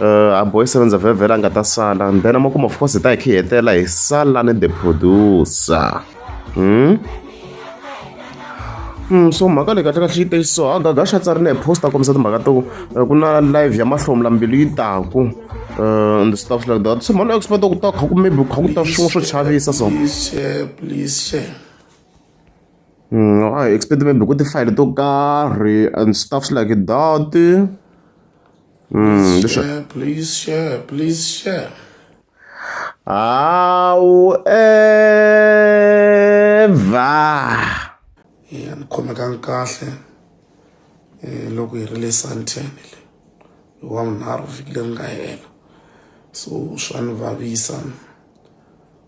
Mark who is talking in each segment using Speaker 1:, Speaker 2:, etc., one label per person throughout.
Speaker 1: a boy sevenza vhevhela a nga ta sala and then amakumu of course hi ta hi khe hi hetelela hi sala ni the producer hmm? Hmm, so mhaka leyi kahle kahle yi te so agaga xa tsarile hi post a kombisa timhaka to eh, ku na live ya mahlomula mbilu yi taku uh, and stuff like that so mhani expect ku ta kha ku maybe kha ku ta swin'we swo chavisa so Mm, I expect maybe ku ti-file to karhi and stuffs like that Mm, this
Speaker 2: share, please share, please share.
Speaker 1: However,
Speaker 2: yeah, ni khomekanga kahle eh, loko hi ri le santene le hi wa vunharhu vhiki leri nga hela so swa ni vavisa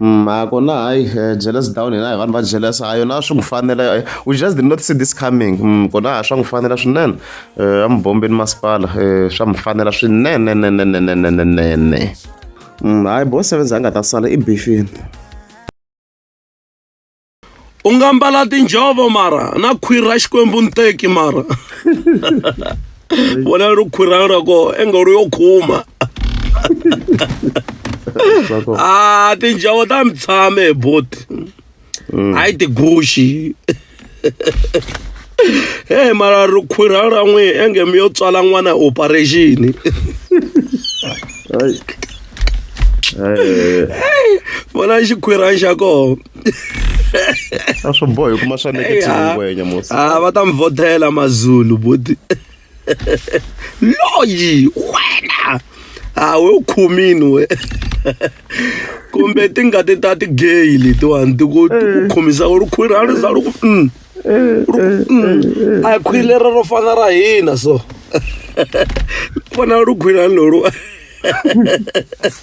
Speaker 1: a ku na hayi jealous down hina hi vanhu va jealous a yona swi n'wi fanela we just did not see this coming kona a swa n'wi fanela swinene a mubombeni masipala swa n'wi fanela swinenenenenenenenene hayi bo sevenza a nga ta sala i bifini
Speaker 3: u nga mbala tinjhovo mara na khwiri ra xikwembu nteki mara vona ri khwiri ra ko engolo yo khuma Sako. a tinjhovo ta mi tshame hi boti hayi tiguxi he mara ri khwiri ra n'wi enge mi yo tswala n'wana hi operation Ai. Ai. vona xikhwirani xa kona
Speaker 1: a swo boha hikuma swa nekethiwingwenya musa a ah, va ta mi vhotela
Speaker 3: mazulu buti loyi wena a ah, we u khumini we kumbe tingati ta tigeyi letiwani ti ku eh. khumisa ku ri khwiri a ri za ri ku mm. eh, mm. a khwiri leri ro fana ra hina so vona ri khwiri a lolu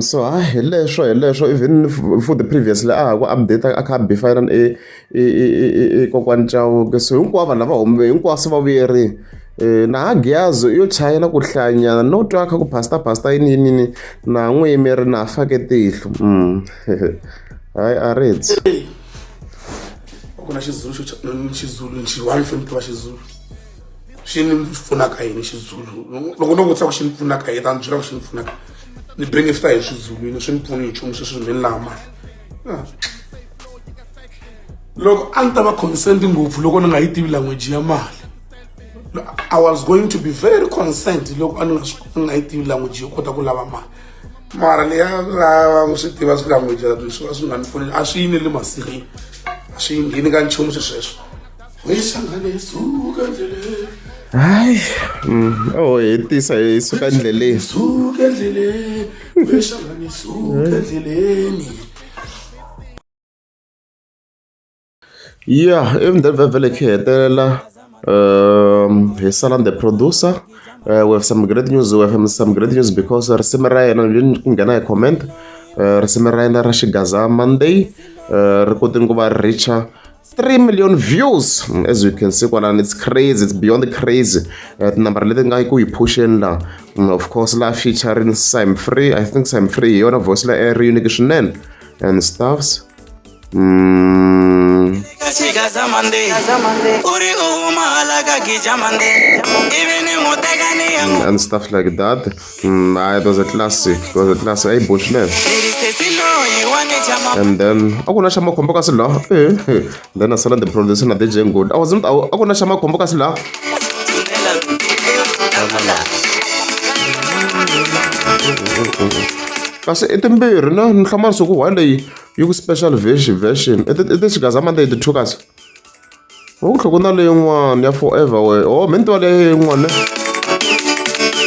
Speaker 1: So ha hi leswo hi leswo even futhi previously a ha ku update a kha a be fana na i kokwani Chauke so hinkwavo lava huma hinkwavo se va vuyeriwa. Na ha Giyani yo chayela ku hlayanyana no twa kha ku pastor pastor yini yini yini na ha n'wi yimeri na ha fake tihlo hayi a ri dzi.
Speaker 2: Ku na Xizulu xo Xizulu xin'wana xo ni tiva Xizulu. xi ni pfunaka yini xizulu loko no vutisa ku xi ni pfunaka yini ta ni byela ku xi ni pfunaka ni benefita hi swizulwini swi ni pfuni hi nchumu sweswi ni lava mali ah. loko a ni ta va consent ngopfu loko ni nga yi tivi language ya mali i was going to be very consent loko a ni nga ni nga yi tivi language yo kota ku lava mali mara leya lava ku swi tiva swi language swi va swi nga ni pfuni a swi yineli masirhini a swi ngheni ka nchumu swesweswo hayi
Speaker 1: mm, o hetisa hi suka
Speaker 2: endleleni
Speaker 1: ya emindzeni vhevhele khe hetelela um hi sala the producer uh, we have some great news we have some great news because risimu ra yena ni ku nghena hi comment uh, risimu ra yena ra xigaza monday uh, ri kotini ku va richa 3 million views as you can see kwalani it's crazy it's beyond crazy uh, tinambara leti nga ku yi phuxeni la mm, of course la featuring sim free i think sim free hi yona voice la ri unike swinene and stuffs mm. and stuff like that Mm, hayi it was a classic it was a classic ayi bush leyo and then a ku na xa makhombo kasi laha eh, eh. then a sala the producer na dj ngod a wasn't a ku na xa makhombo kasi laha kasi i timbirhi na ni hlama nsuku one leyi yi ku special version version i ti xigazamanda yi ti-two kasi Wo tlhoko na leyin'wana ya forever we oh mi ni tiva leyin'wana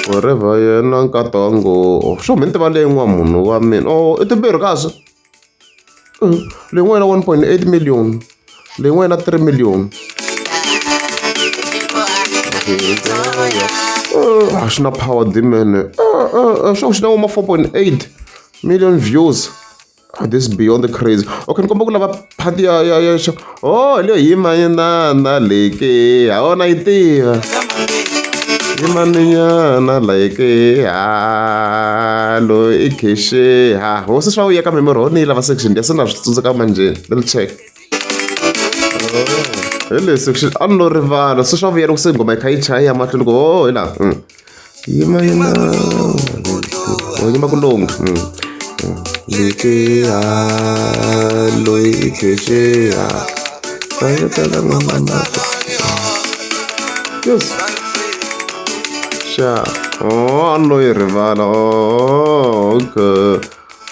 Speaker 1: forever yena nkata wa ngo oh, swo mi ni tiva leyin'wana munhu wa mina oh i timbirhi kahle mm, leyin'wana one point eight million leyin'wana three million a swi na power dimene swa ku xi na woma four point eight million views Oh, this is beyond the crazy okay ni komba ku lava phati ya ya ya xo oh leyo yima yinana leke ha wona yi tiva yimaninyana leke ha lo i kheshe ha hosi swa vuya ka memory ho ni yi lava section ya se na swi tsundzuka manjeni little check hi leswi a ni lo rivala se swa vuyela ku se nghoma yi kha yi chaya ya mahlweni ku o hi laha yima yima oh yima kulunga mm. mm. likiha loyi i khexeha fayetela n'wanamata yes xa o oh, a loyi rivala o oh, okay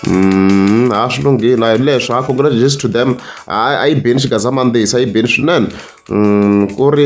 Speaker 1: Mm, a swi lunghile a hi leswi a congratulations to them a yi beni xigazamandzisa a yi beni swinene mm, ku ri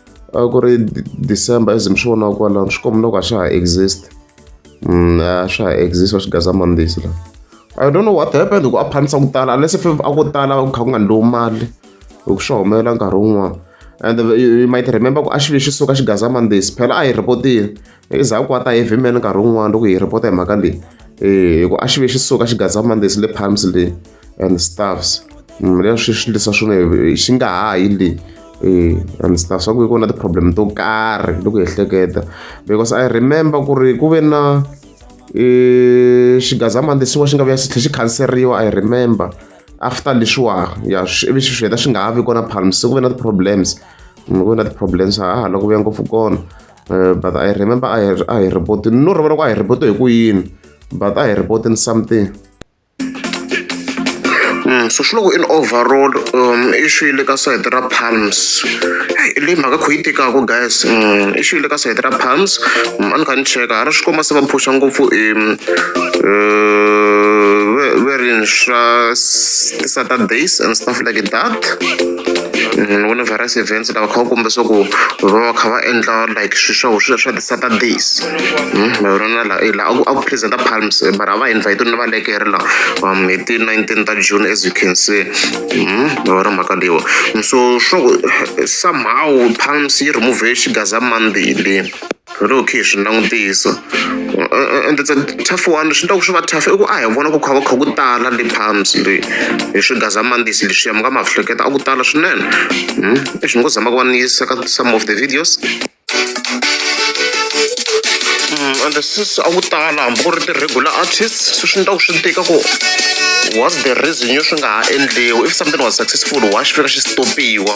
Speaker 1: a ku ri december as mi swi vonaka kwalano swi komba loko a swa ha exist mm, a swa ha exist wa swigazamandzisi la i don't know what happened ku a phanisa ku tala unless if a ko tala ku kha ku nga ndlowu mali hi ku swi humelela nkarhi wun'wana and you might remember ku a xilo xi suka xigazamandzisi phela a hi rhipotile endzhaku ka ta heavy man nkarhi wun'wana loko hi report hi mhaka leyi eh, hi ku a xi ve xi suka xi gaza mondays le palms le and staffs mm, leswi swi lisa swona xi nga ha yi leyi eh, and staff swa ku ku na ti-problem to karhi loko hi ehleketa because i remember ku ri ku ve na eh, xigaza mandesiwa xi nga vuya xi tlhe xi khanseriwa i remember after leswiwa ya ivi swi swi heta swi nga ha vi kona palms se ku ve na ti-problems mm, ku ve na ti-problems ha ha loko vuya ngopfu kona Uh, but I remember I, I reported, no, remember I reported Queen, but I reported something. Mm, so swi loko in overall um i xi le ka side ra palms i leyi mhaka kho yi tikaka guys mm, i xi le ka side ra palms mm, a ni kha ni cheka ha ri swi komba se va phusha ngopfu um uh, ve ri swa ti-saturdays and stuff like that ni virus events lava kha va komba swa ku va va kha va endla like swi swa swi swa ti-saturdays hmm, ma vona na laha la a ku presenta palms eh, mara a va invite na va lekere la um hi ti-nineteen ta june as you can see hmm, ma vona mhaka leyiwa so swa ku eh, somehow palms yi remove xigaza monday leyi Loko hi kha hi swi langutisa ende tough one leswi endlaka swi va tough i ku a hi vona ku kha va kha ku tala le palms le hi swigazamandisi leswiya mi nga ma hleketa a ku tala swinene hmm? i swi ngo zama ku va ni yisa ka some of the videos hmm, ende sisi a ku tala hambi ku ri ti-regular artists swi swi endlaka swi tika ku what's the reason yo swi nga ha endliwi if something was successful wa xi fika xi stopiwa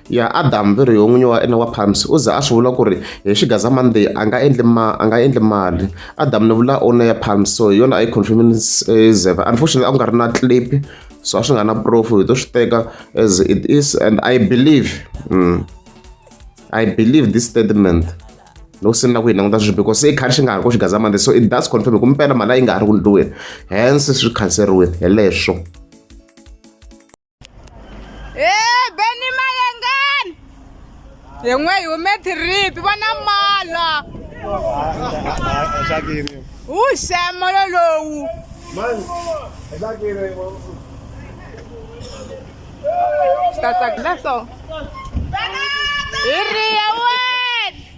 Speaker 1: ya Adam Viriho n'winyi wa ene wa Palms u za a swi vula ku ri hi Xigaza Monday a nga endli ma a nga endli mali Adam ni vula owner ya Palms so hi yona a yi confirmini eh, Zeva unfortunately a ku nga ri na clip so a swi nga na proof hi to swi teka as it is and I believe mm, I believe this statement loko se ni la ku yi languta sweswi because se i khari xi nga ha ri ko Xigaza Monday so it does confirm hi ku mpela mali a yi nga ha ri ku ndliweni hence swi khanseriwile hi leswo
Speaker 4: e beni mayengani yen'we hi hume tiripi vona mala wu xemolo lowu swi ta tsakisa so hi riya